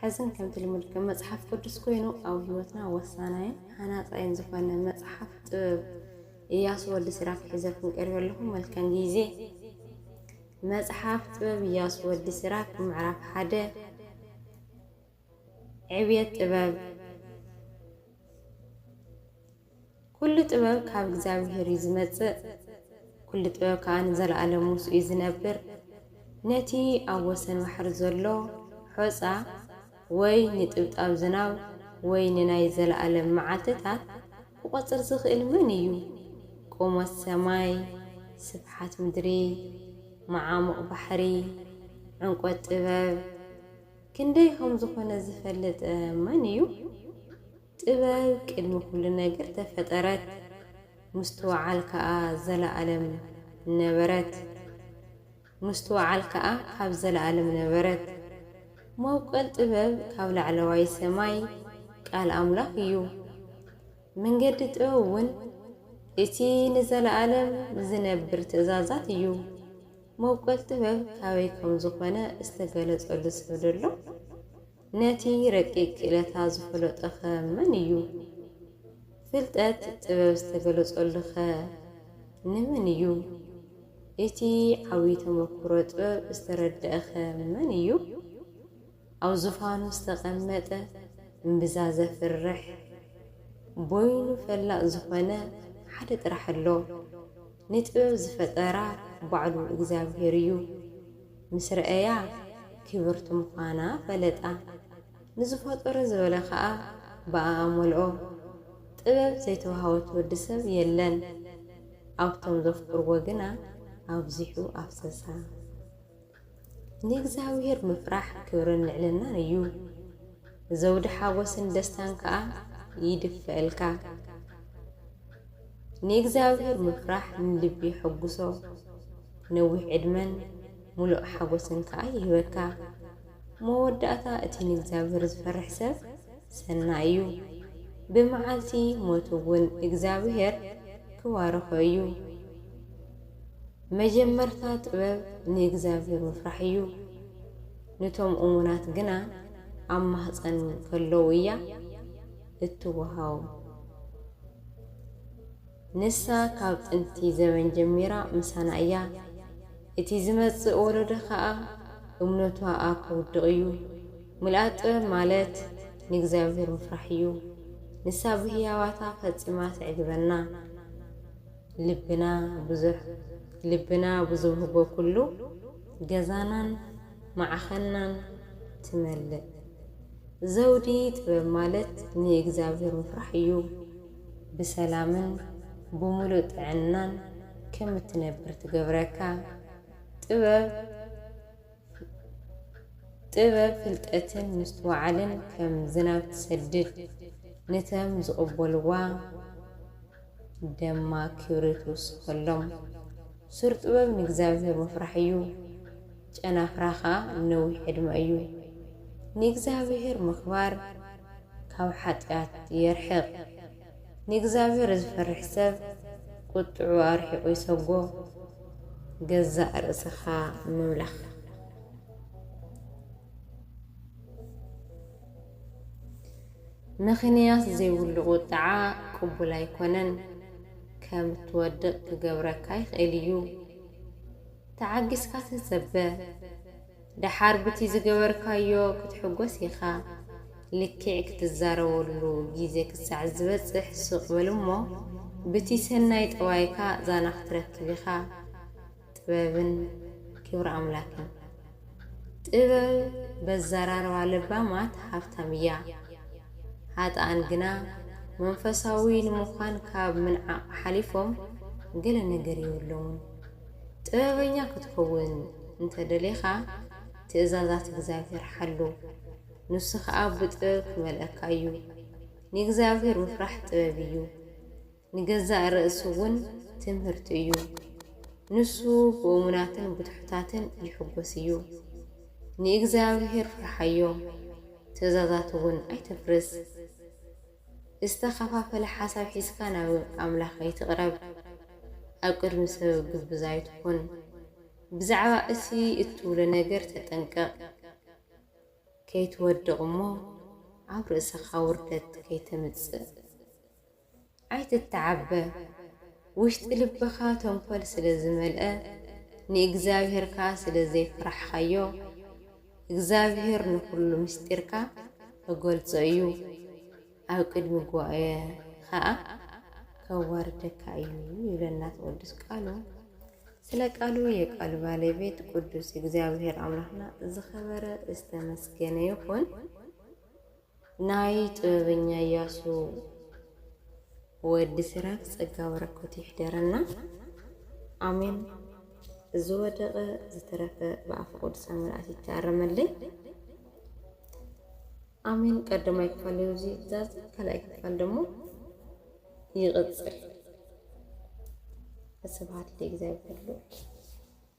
ሕዝን ከምቲ ልሙድ ከም መጽሓፍ ቅዱስ ኮይኑ ኣብ ህይወትና ወሳናይን ሃናጻይን ዝኾነ መጽሓፍ ጥበብ እያሱ ወዲ ሲራክ ሒዘልኩም ቀሪበ ኣለኹ። መልካም ጊዜ። መጽሓፍ ጥበብ እያሱ ወዲ ሲራክ ምዕራፍ ሓደ ዕብየት ጥበብ ኵሉ ጥበብ ካብ እግዚኣብሄር እዩ ዚመጽእ፣ ኵሉ ጥበብ ከኣ ንዘለኣለም ምስኡ እዩ ዚነብር። ነቲ ኣብ ወሰን ባሕሪ ዘሎ ሖጻ፣ ወይ ንጥብጣብ ዝናብ፣ ወይ ንናይ ዘለኣለም መዓልትታት ኪቈጽር ዚኽእል መን እዩ? ቁመት ሰማይ፣ ስፍሓት ምድሪ፣ መዓሙቕ ባሕሪ፣ ዕምቈት ጥበብ፣ ክንደይ ኸም ዝዀነ ዚፈልጥ መን እዩ? ጥበብ ቅድሚ ኩሉ ነገር ተፈጠረት፣ ምስትውዓል ከኣ ዘለኣለም ነበረት፣ ምስትውዓል ከኣ ካብ ዘለኣለም ነበረት። መብቆል ጥበብ ካብ ላዕለዋይ ሰማይ፣ ቃል ኣምላኽ፣ እዩ። መንገዲ ጥበብ እውን እቲ ንዘለኣለም ዚነብር ትእዛዛት እዩ። መብቆል ጥበብ ካበይ ከም ዝዀነ ዝተገለጸሉ ሰብ ደሎ? ነቲ ረቂቅ ክእለታ ዝፈለጦኸ መን እዩ? ፍልጠት ጥበብ ዝተገለጸሉኸ ንመን እዩ? እቲ ዓብይ ተመኩሮ ጥበብ ዝተረደእኸ መን እዩ? ኣብ ዙፋኑ ዝተቀመጠ እምብዛ ዘፍርሕ ቦይኑ ፈላጥ ዝኾነ ሓደ ጥራሕ ኣሎ። ንጥበብ ዝፈጠራ ባዕሉ እግዚኣብሔር እዩ። ምስ ረኣያ ክብርቲ ምዃና ፈለጣ። ንዝፈጠሮ ዝበለ ከኣ ብኣኣ መልኦ። ጥበብ ዘይተዋህበት ወዲ ሰብ የለን። ኣብቶም ዘፍቅርዎ ግና ኣብዚሑ ኣፍሰሳ። ንእግዚኣብሄር ምፍራሕ ክብርን ልዕልናን እዩ። ዘውዲ ሓጎስን ደስታን ከኣ ይድፈእልካ። ንእግዚኣብሔር ምፍራሕ ንልቢ የሐጉሶ ነዊሕ ዕድመን ሙሉእ ሓጎስን ከኣ ይህበካ። መወዳእታ እቲ ንእግዚኣብሔር ዝፈርሕ ሰብ ሰናይ እዩ። ብመዓልቲ ሞቱ እውን እግዚኣብሔር ክባርኾ እዩ። መጀመርታ ጥበብ ንእግዚኣብሔር ምፍራሕ እዩ። ንቶም እሙናት ግና ኣብ ማህፀን ከለዉ እያ። እትወሃቦም። ንሳ ካብ ጥንቲ ዘበን ጀሚራ ምሳና እያ። እቲ ዝመጽእ ወለዶ ከኣ እምነቷኣ ከውድቕ እዩ። ምልኣት ጥበብ ማለት ንእግዚኣብሄር ምፍራሕ እዩ። ንሳ ብህያባታ ፈጺማ ተዕግበና። ልብና ብዙሕ። ልብና ብዝውህቦ ኩሉ ገዛናን ማዕኸናን ትመልእ። ዘውዲ ጥበብ ማለት ንእግዚኣብሔር ምፍራሕ እዩ። ብሰላምን ብምሉእ ጥዕናን ከም እትነብር ትገብረካ። ጥበብ ጥበብ ፍልጠትን ምስትውዓልን ከም ዝናብ ትሰድድ፣ ንተም ዝቕበልዋ ደማ ክብሪ ትውስኸሎም። ሱር ጥበብ ንእግዚኣብሔር ምፍራሕ እዩ። ጨናፍራ ከኣ ንነዊሕ ዕድመ እዩ። ንእግዚኣብሄር ምኽባር ካብ ሓጢኣት የርሕቕ። ንእግዚኣብሄር ዝፈርሕ ሰብ ቍጥዕኡ ኣርሒቑ ይሰጐ። ገዛእ ርእስኻ ምምላኽ። ምኽንያት ዘይብሉ ቍጥዓ ቅቡል ኣይኰነን፣ ከም እትወድቕ ክገብረካ ይኽእል እዩ። ተዓጊስካ ተጸበ ደሓር ብቲ ዝገበርካዮ ክትሕጎስ ኢኻ ልኪዕ ክትዛረበሉ ግዜ ክሳዕ ዝበጽሕ ሱቅ በል እሞ ብቲ ሰናይ ጠባይካ ዛና ክትረክብ ኢኻ ጥበብን ክብሪ ኣምላክን ጥበብ በዘራርባ ለባማት ሃብታም እያ ሃጥኣን ግና መንፈሳዊ ንምዃን ካብ ምንዓቅ ሓሊፎም ገለ ነገር የብሎሙን። ጥበበኛ ክትከውን እንተ ደሊኻ፣ ትእዛዛት እግዚኣብሄር ሓሉ፣ ንሱ ኸኣ ብጥበብ ኪመልኣካ እዩ። ንእግዚኣብሄር ምፍራሕ ጥበብ እዩ፣ ንገዛእ ርእሲ እውን ትምህርቲ እዩ። ንሱ ብእሙናትን ብትሑታትን ይሕጐስ እዩ። ንእግዚኣብሄር ፍርሓዮ፣ ትእዛዛቱ እውን ኣይተፍርስ። ዝተኸፋፈለ ሓሳብ ሒዝካ ናብ ኣምላኽ ኣይትቕረብ፣ ኣብ ቅድሚ ሰብ ግብዝ ኣይትኹን፣ ብዛዕባ እቲ እትብሎ ነገር ተጠንቀቕ፣ ከይትወድቕ እሞ ኣብ ርእሰኻ ውርደት ከይተምጽእ። ኣይትተዓበ፣ ውሽጢ ልብኻ ተንኮል ስለ ዝመልአ፣ ንእግዚኣብሄር ከኣ ስለ ዘይፈራሕካዮ። እግዚኣብሄር ንዅሉ ምስጢርካ ኺገልጾ እዩ፣ ኣብ ቅድሚ ጉባኤ ኸኣ ኬዋርደካ እዩ ይብለና ቅዱስ ቃሉ። ስለ ቃሉ የቃሉ ባለቤት ቅዱስ እግዚኣብሄር ኣምላኽና ዝኸበረ ዝተመስገነ ይኹን። ናይ ጥበበኛ ያሱ ወዲ ሲራክ ጸጋ በረከቱ ይሕደረና ኣሜን። ዝወደቐ ዝተረፈ ብኣፈ ቅዱሳን መላእክት ይተኣረመለይ። ኣሜን። ቀዳማይ ክፋል እዩ እዚ ዛዚ፣ ካልኣይ ክፋል ደግሞ ይቕጽል። ስብሐት ለእግዚኣብሔር ልዑል።